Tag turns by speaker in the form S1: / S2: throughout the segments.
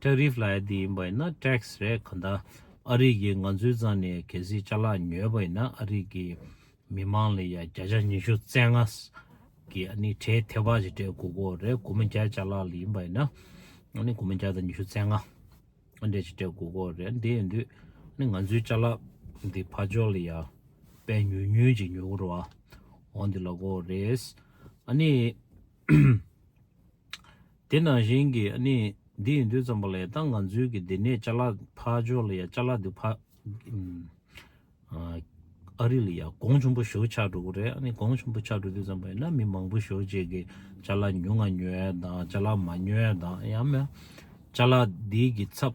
S1: Tariff ལ་ཡ་དེ་ཡིན་པ་ཡིན་ན Tax རེད་གང་ལྟར་ཨ་རིག་གིས་ང་ཚོའི་རྩ་ནས་གལ་སྲིད་ལྕགས་ལག་ཉོས་པ་ཡིན་ན་ཨ་རིག་གི་མི་མང་ལ་ཡ་བརྒྱ་ཆ་ཉི་ཤུ་རྩེ་ལྔ་གི་ཨ་ནི་ཁྲའི་ཐེ་བག་ཅིག་སྤྲད་དགོས་གོ་རེད་དགུ་མ་བརྒྱ་ལྕགས་ལག་ལ་ཡིན་པ་ཡིན་ན་ཨ་ནི་དགུ་མ་བརྒྱ་དང་ཉི་ཤུ་རྩེ་ལྔ་ཨ་འདྲས་ཅིག་སྤྲད་དགོས་གོ་རེད་དེ་ཡིན་དུས་ཨ་ནི་ང་ཚོའི་ལྕགས་ལག་འདི་ཕར་འཇོག་ལ་ཡ་དཔལ་ཉུལ་ཉུལ་ཅིག་ཉོ་གི་རོ་ཨོ་འདི་ལ་གོ་རེད་ཨ་ནི། དེ་ནང་བཞིན་གྱི་གནས་འདི་ཡིན་དུས་ཙམ་པ་ལ་ཡང་ད་ང་ཚོའི་གི་འདི་ནས་ལྕ་ལ་ཕག་འཇོག་ལ་ཡང་ལྕ་ལ་འདི་ཕག་ཨ་རི་ལ་ཡང་གོང་ཆུང་པོ་ཞོག་ཆགས་འགྲོ་གི་རེད་ཨ་ནི་གོང་ཆུང་པོ་ཆགས་འགྲོ་དུས་ཙམ་པ་ཡིན་ན་མི་མང་པོ་ཞོག་ཅེས་གི་ལྕ་ལ་ཉུང་ང་ཉོས་དང་ལྕ་ལ་མ་ཉོས་དང་ཡང་མོས་ལྕ་ལ་འདི་གི་ཚབ་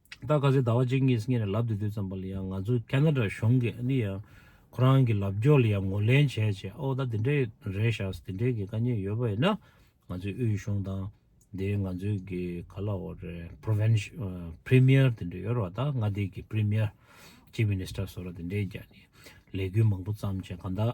S1: ད་ག་ཚོད་ཟླ་བ་གཅིག་གཉིས་སྔས་ནས་ལབ་དེ་དུས་ཙམ་པ་ལ་ཡང་ང་ཚོ་ཀན་ན་ཏྲ་གཞུང་གི་ཨ་ནི་ཡང་ཁོ་རང་གི་ལབ་རྒྱོག་ལ་ཡང་ངོ་ལེན་བྱས་བྱས་ཨོ་ད་དེ་འདྲའི་རེད་ཤགས་དེ་འདྲའི་གི་དཀའ་ཉེ་ཡོད་པ་ཡིན་ན་ང་ཚོའི་དབུས་གཞུང་དང་དེའི་ང་ཚོའི་གི་ག་ལ་འོ་རེད Province Premier དེ་འདྲ་ཡོད་ར་བ་ད་མངའ་སྡེའི་གི Premier Chief Minister སོ་ར་དེ་འདྲའི་ག་ནི་ལས་འགུལ་མང་པོ་བརྩམས་བྱས་ག་ད།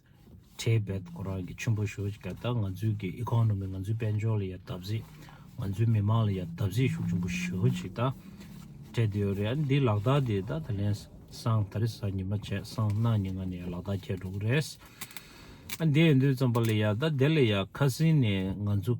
S1: ཁྲེལ་འབད་ཁོ་རང་གི་ཆུན་པོ་ཞོ་ཅིག་ག་ད་ང་ཚོའི་གི economy ང་ཚོའི་དཔལ་འབྱོར་ལ་ཡ་བལྟ་བཟི་ང་ཚོའི་མི་མང་ལ་ཡ་བལྟ་བཟི་ཤུགས་ཆུན་པོ་ཞོ་ཅིག་ད་སྤྲད་དུ་ཡོ་རེད་ཨ་འདི་ལག་རྟགས་དེ་ད་ད་ལན་སང་ད་རི་སང་ཉི་མ་བྱས་སང་གནངས་ཉི་ང་ནས་ཡ་ལག་རྟགས་ཁྱེར་འགྲོ་གི་རེད་ཨ་འདི་འདོད་ཙམ་པ་ལ་ཡ་ད་དེ་ལ་ཡ་ཁ་སིན་ནས་ང་ཚོ།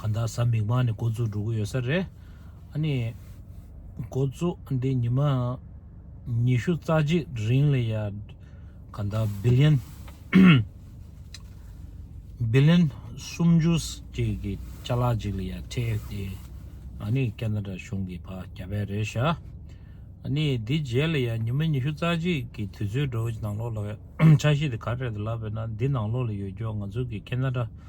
S1: གང་ལྟར་གཟའ་མིག་དམར་ནས་འགོ་འཛུགས་འགྲོ་གི་ཡོད་ས་རེད། ཨ་ནི། འགོ་འཛུགས་འདི་ཉི་མ་ཉི་ཤུ་རྩ་གཅིག་རིང་ལ་ཡ། གང་ལྟར Billion། Billion། སུམ་ཅུ་གཅིག་གི་ལྕགས་ལག་ཅིག་ལ་ཡ་ཐེབས་ཏེ། ཨ་ནི་ཀ་ན་རཱ་གཞུང་གི་ཕ་རྒྱ་བལ་རེད་ཤག། ཨ་ནི་དེ་རྗེས་ལ་ཡ་ཉི་མ་ཉི་ཤུ་རྩ་གཅིག་གི་དུས་ཚོད་འགྲོ་བའི་ནང་ལོགས་ལ་ཆ་ཤས་དེ་ག་རེད་ལབ་པས་ན་འདི་ནང་ལོགས་ལ་ཡོད་སྐྱོ་ང་ཚོ་གི་ཀ་ན་རཱ་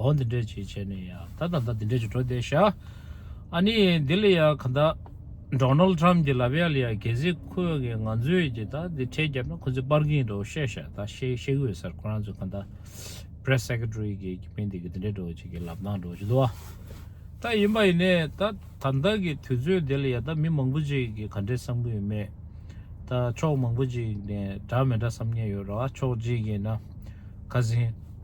S1: འོ་འདི་འདྲས་བྱས་བྱས་ནས་ཡ་ད་ད་ད་འདི་འདྲས་བྱས་འགྲོ་བསྡད་ཤག་ཨ་ནི་འདི་ལ་ཡ་ག་ད Donald Trump གྱི་ལབ་ཡ་ལ་ཡ་གལ་སྲིད་ཁོས་ངས་ང་ཚོས་ཀྱི་ད་འདི་འཕྲལ་བརྒྱབ་ན་ཁོ་ཚོས་སྤར་གྱི་ཡིན་འགྲོ་བཤད་ཤག་ད་བཤད་བཤད་གི་ཡོད་སར་ཁོ་རང་ཚོས་ག་ད Press Secretary གྱི་གྱི་མི་འདི་གི་འདི་འདྲས་འགྲོ་བྱེད་གི་ལབ་ནང་འགྲོ་བྱེད་དུ་བ་ད་ཡིན་པ་ཡིན་ནས་ད་ད་ད་གི་དུས་ཚོད་འདི་ལ་ཡ་ད་མི་མང་པོ་ཅིག་གི་ག་འདྲས་བསམ་གི་ཡོད་མེད་ད་ཕྱོགས་མང་པོ་ཅིག་ནས་འདྲ་མི་འདྲ་བསམ་ཉན་ཡོད་ར་བ་ཕྱོགས་གཅིག་གིས་ན་ག་ཟིན།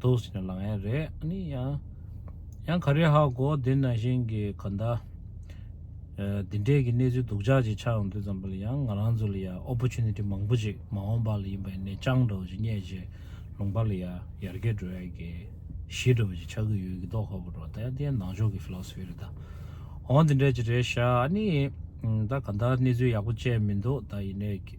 S1: དུག་ཟེར་ན་ལག་ཡན་རེད་ཨ་ནི་ཡང། ཡང་ག་རེ་ཧ་གོ་དེ་ན་ཞིང་གི་ག་ཟླ། འདི་འདྲས་ཀྱི་གནས་ཚུལ་སྡུག་ཅག་ཅིག་ཆགས་ཡོང་དུས་ཙམ་པོ་ལ་ཡང་ང་རང་ཚོ་ལ་ཡང Opportunity མང་པོ་ཅིག་མ་འོངས་པ་ལ་ཡིན་པ་ཡིན་ནའི་སྤྱང་གྲོགས་ཅིག་རྙེད་རྗེས་ལུང་པ་ལ་ཡང་ཡར་རྒྱས་འགྲོ་ཡ་གི། ཞི་འགྲོ་བ་ཅིག་ཆགས་ཀྱི་ཡོད་ཀྱི་མདོག་ཧ་གོ་འགྲོ་ད་ཡང་དེ་ཡང་ནང་ཆོས་ཀྱི Philosophy རེད་ད། འོ་འདི་འདྲས་ཅིག་རེད་ཤག་ཨ་ནི། ད་ག་ཟླ་གནས་ཚུལ་ཡག་པོ་ཅན་མི་འདུག་ད་ཡིན་ནའི།